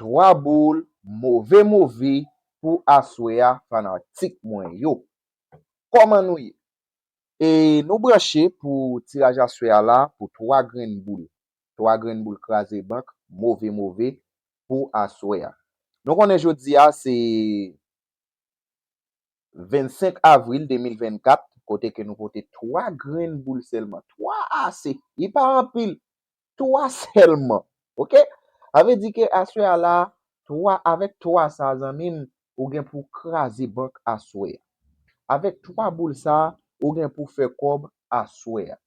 3 boul move move pou aswè a fanatik mwen yo Koman nou ye e nou branche pou tiraj aswè a la pou 3 grenn boul 3 grenn boul kraze bank move move pou aswè a Nou konnen jodi a se 25 avril 2024 kote ke nou pote 3 grenn boul sèlman 3 ase li pa anpil 3 sèlman ok sa vle di ke aswè a la 3 avèk 3 sa zanmim ou gen pou kraze bank aswè a avèk 3 boul sa ou gen pou fè kòb aswè a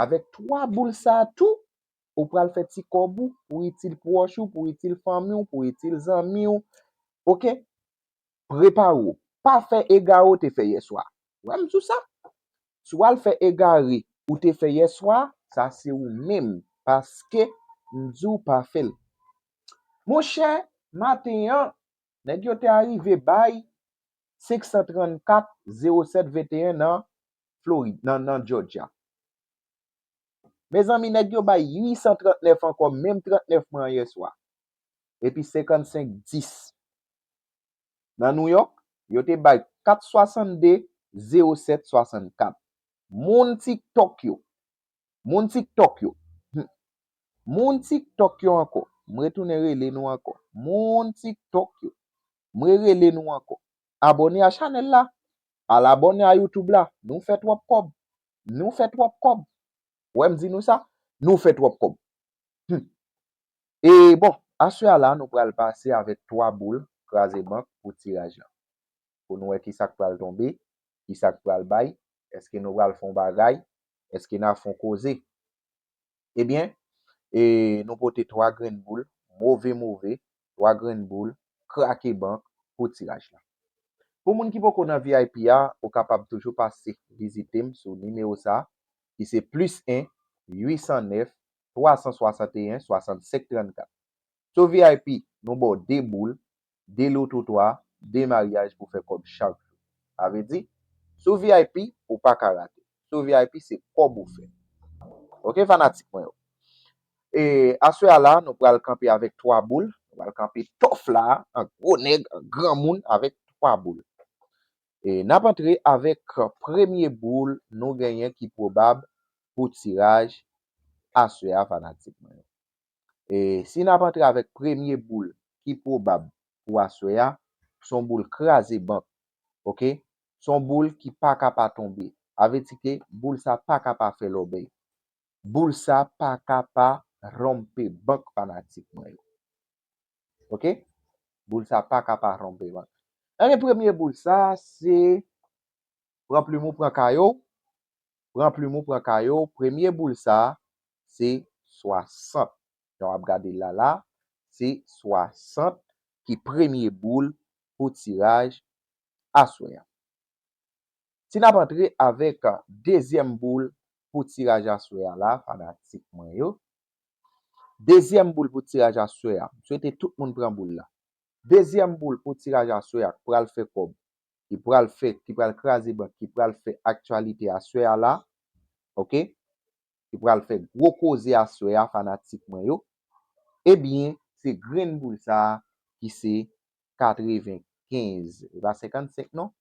avèk 3 boul sa tou ou pral fè ti kòb ou pou itil pwòch ou pou itil fanmiw pou itil zanmiw ok. prepare w pa fè egare w te fè yèswa wè m sou sa si w al fè egare ou te fè yèswa sa se ou menm paske m di w pa fè l monchè maten an nèg yo te arive bay 534 07 21 nan Florid nan nan Jòjya mezanmi nèg yo bay 839 ankò menm 39 mwen an yèswa epi 55 10 Nan Nouyòk, yo te bay 4 62 07 64. Moun TikTok yo! Moun TikTok yo! Hum! Moun TikTok yo ankò! M retounen rele nou ankò! Moun TikTok yo! M rerele nou ankò! Abòne a chanèl la! Al abòne a YouTube la! Nou fè twòp kòb! Nou fè twòp kòb! Wè m di nou sa? Nou fè twòp kòb! Hum! E bon, aswè a la nou pral pase avèk 3 boul kraze bank pou tiraj lan. Pou nou wè kisa k pral tonbe, kisa k pral bay, èske nou pral fè yon bagay, èske n a fè yon koze. Ebyen, e nou pote 3 grenn boul move move, 3 grenn boul krake bank pou tiraj lan. Pou moun ki poko nan vip a, ou kapab toujou pase vizite m sou nimewo sa ki se plis 1, 809, 361 65 34 So vip nou baw 2 boul, 2 lo twotwa, 2 maryaj pou fè kòb chak jou. Sa vle di So vip ou pa ka rate. So vip se kòb ou fè. Ok fanatik mwen yo. E aswè a la nou pral kanpe avèk 3 boul. Nou pral kanpe tòf la an gwo nèg, an granmoun avèk 3 boul. E nap antre avèk premye boul nou genyen ki pwobab pou tiraj aswè a fanatik mwen yo. E si nap antre avèk premye boul ki pwobab pou aswè a, son boul kraze bank ok, son boul ki paka pa tonbe, avledi ke boul sa paka pa fè lòbèy, boul sa paka pa ronpe bank fanatik mwen yo. Ok boul sa paka pa tonbe man. Anyen premye boul sa se pran plim ou pran kaye w pran plim ou pran kaye w premye boul sa se 60 jan wap gade l la la se 60 ki premye boul pou tiraj aswè a. Si nap antre avèk dezyèm boul pou tiraj aswè a la fanatik mwen yo Dezyèm boul pou tiraj aswè a. M swete tout moun pran boul la. Dezyèm boul pou tiraj aswè a k pral fè kòb, ki pral fè, ki pral kraze bank, ki pral fè aktyalite aswè a la, ok, ki pral fè gwo koze aswè a fanatik mwen yo, ebyen se grenn boul sa a ki se 95, e pa 55 non,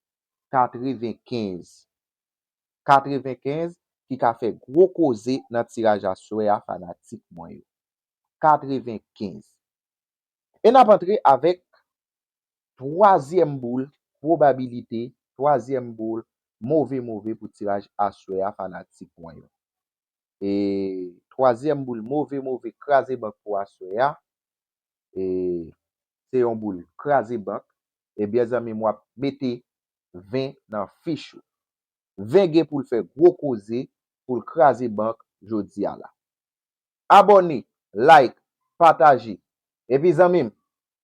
95. 95 ki ka fè gwo koze nan tiraj aswè a fanatik mwen yo. 95. E n ap antre avèk twazyèm boul pwobabilite, twazyèm boul move move pou tiraj aswè a fanatik mwen yo. E twazyèm boul move move kraze bank pou aswè a, e se yon boul kraze bank, ebyen zanmi m w ap mete 20 nan fich ou. 20 gen poul fè gwo koze poul kraze bank jodia la abòne like pataje epi zanmim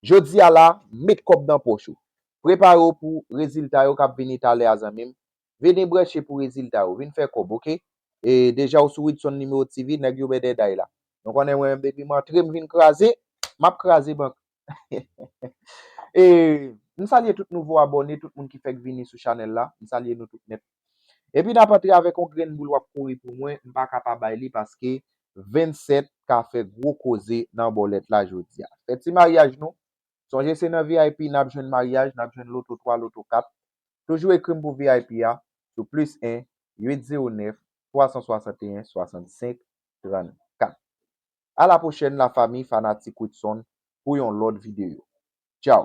jodia la met kòb nan pòch ou prepare w pou rezilta yo kap vini talè a zanmim vini branche pou rezilta yo vin fè kòb ok deja ou sou widson numéro TV nèg yo bèdèday la nou konnen mwen menm depim antre m vin kraze map kraze bank E m salye tout nouvo abòne, tout moun ki fèk vini sou chanèl la, m salye nou tout nèt. Epi n ap antre avèk yon grenn boul w ap kouri pou mwen, m pa ka pa bay li paske 27 ka fè gwo koze nan bòlèt la jodi a. Fè ti maryaj nou, sonje se nan vip n ap jwenn maryaj, n ap jwenn loto 3, loto 4. Toujou ekri m pou vip a sou plis 1 809 361 65 34. Ala pwochèn la fami fanatik Widson pou yon lòt videyo. Tchao!